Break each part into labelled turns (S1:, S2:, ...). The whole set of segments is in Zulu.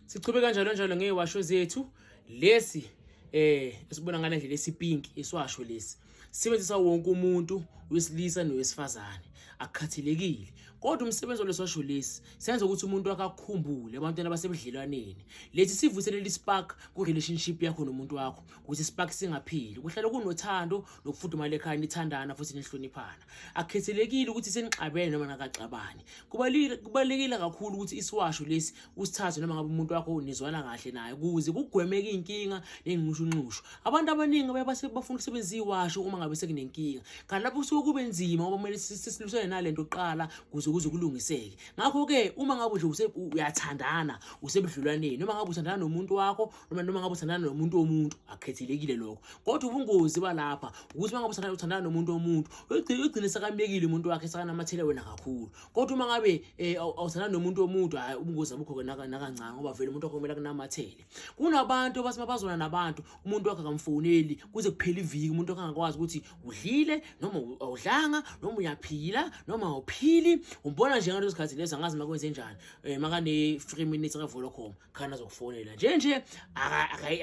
S1: sichube kanjalo njalo ngey'washo zethu lesi eh esibona ngale ndlela esipinki isiwasho lesi sisebenzisa wonke umuntu wesilisa nowesifazane akukhathelekile kodwa umsebenzi walesosho lesi senza ukuthi umuntu akakhumbule abantwana basebudlelwaneni lesi sivuselele ispark ku-relationship yakho nomuntu wakho ukuthi ispark singapheli kuhlale kunothando nokufudumala ekhaya nithandana futhi nihloniphana akukhethelekile ukuthi senixabene noma nakaxabani kubalulekile kakhulu ukuthi isiwasho lesi usithathe noma ngabe umuntu wakho nizwana kahle naye ukuze kugwemeke iy'nkinga ney'nxushunxushu abantu abaningi baye bafuna ukusebenzisa iwasho uma ngabe sekunenkinga kanti lapho kusuke kube nzima ngoba kumele sisilwisane nale nto kuqala kuze kuze kulungiseke ngakho-ke uma ngabe nje uyathandana usebudlulwaneni noma ngabe uthandana nomuntu wakho noma noma ngabe uthandana nomuntu womuntu akhethelekile lokho kodwa ubungozi balapha ukuthi uma ngabe uthandana uthandana nomuntu womuntu uyogcina ugcine sekamyekile umuntu wakhe sekanamathele wena kakhulu kodwa uma ngabe eh, awuthandana nomuntu womuntu hayi ubungozi abukho ke nakancane ngoba vele umuntu wakho kumele kunamathele kunabantu abathi mabazona nabantu umuntu wakhe akamfoneli kuze kuphele iviki umuntu wakhe angakwazi ukuthi udlile noma awudlanga noma uyaphila noma awuphili umbona nje ngaleso sikhathi leso angazi makwenze njani um eh, makane-three minutes akavolocom khani azokufonela nje nje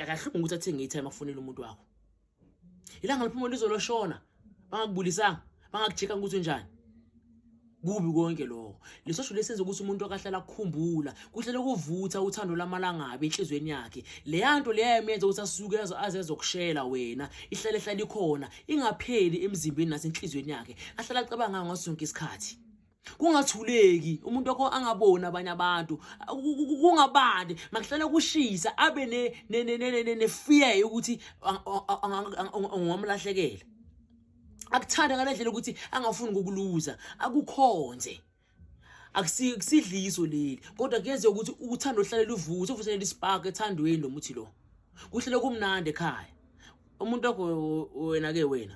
S1: akahlungu ukuthi athenge itime afonele umuntu wakho ilanga liphuma lizoloshona bangakubulisanga bangakujika ukuthi unjani kubi konke lokho lesosho lesenza ukuthi umuntu akahlala akukhumbula kuhlele kuvutha uthando lamalangabi enhlizweni yakhe leyanto leyayemenza ukuthi asuke azezokushela wena ihlale hlala ikhona ingapheli emzimbeni nasenhlizweni yakhe ahlala acabanga ngaso sonke isikhathi kungathuleki umuntu wakho angaboni abanye abantu kungabandi makuhlala kushisa abe nefear yokuthi ungamlahlekela akuthanda ngale ndlela ukuthi angafuni ukukuluza akukhonze akusidliso leli kodwa kuyenzeka ukuthi uthando luhlale luvuthe uvuthele ispark ethandweni lo muthi lo kuhlele kumnandi ekhaya umuntu wakho wena ke wena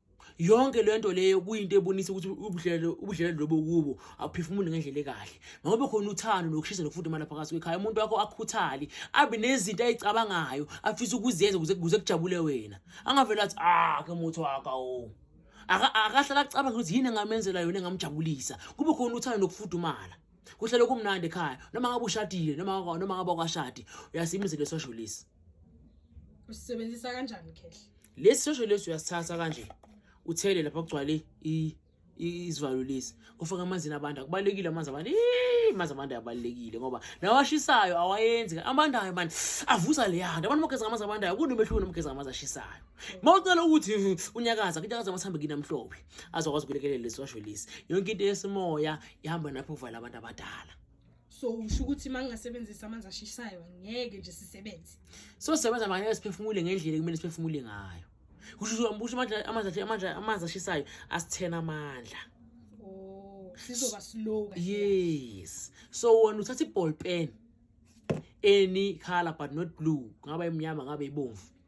S1: yonke le nto leyo kuyinto ebonisa ukuthi ubudlelelo ubudlelelo lobo kubo awuphefumuli ngendlela ekahle makobe khona uthando nokushisa nokufuda imali phakathi kwekhaya umuntu wakho akhuthali abe nezinto ayicabangayo afisa ukuzenza kuze kuze kujabule wena angavela athi ah ke muthi waka o akahlala acabanga ukuthi yini engamenzela yona engamjabulisa kube khona uthando nokufudumala kuhlele kumnandi ekhaya noma ngabe ushadile noma noma ngabe kwashadi uyasimizela sosho lesi usebenzisa
S2: kanjani khehla lesi shosho lesi
S1: uyasithatha kanje uthele lapha kugcwale izivalo lesi ufake amanzini abantu akubalulekile amanzi abantu amanzi abantu ayabalulekile ngoba nawashisayo awayenzi abandayo mani avusa leyanto abantu bageza ngamanzi abandayo kunomehluko nomgeza ngamanzi ashisayo ma ucela ukuthi unyakaza kunyakaza amasambe kini amhlophe azokwazi ukulekelela lesi washo lesi yonke into yesimoya ihamba napho uvala abantu abadala so usho
S2: ukuthi uma ngingasebenzisa amanzi ashisayo ngeke nje sisebenze so sebenza
S1: manje siphefumule ngendlela kumele siphefumule ngayo kusho ukuthi ambusho manje amanzi amanzi amanzi ashisayo asithena amandla
S2: oh sizoba slow yes
S1: so wena uthatha iball pen any color but not blue kungaba imnyama ngabe ibomvu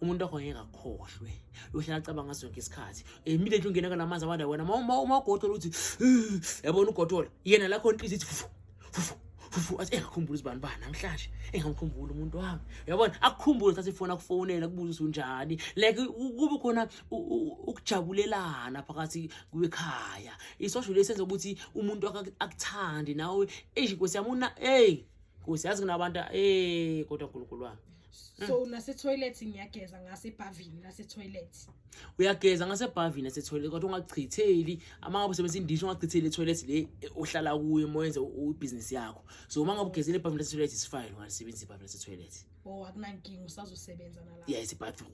S1: umuntu wakho ngeke akhohlwe uyohlala acabanga zonke isikhathi immediately ungena kalamanzi abanda wena uma uma ugodola uthi yabona ugodola yena la khona inhliziyo ithi fufu fufu fufu athi engakhumbula izibani ba namhlanje engamkhumbula umuntu wami uyabona akukhumbule sathi ifona kufonela kubuza usunjani like kube khona ukujabulelana phakathi kwekhaya isosho lesenza ukuthi umuntu akuthandi nawe eish nkosi yami una hey nkosi yazi kunabantu hey kodwa uNkulunkulu wami so mm. nasetoilet
S2: ngiyageza ngasebhavini nasetoilet uyageza
S1: ngasebhavini nasetoilet kodwa ungachitheli uma ngabe usebenzisa indishi ungachitheli etoilet le ohlala kuyo uma wenza ibhizinisi yakho so uma ngabe ugezile ebhavini nasetoilet is fine ungalisebenzisa ibhavini nasetoilet o oh, akunankinga usazosebenza
S2: nalapho yes ibathroom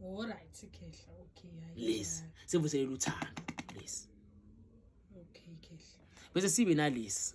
S2: all right
S1: khehla
S2: okay yes sevuselela
S1: uthando
S2: yes
S1: okay khehla bese sibe nalesi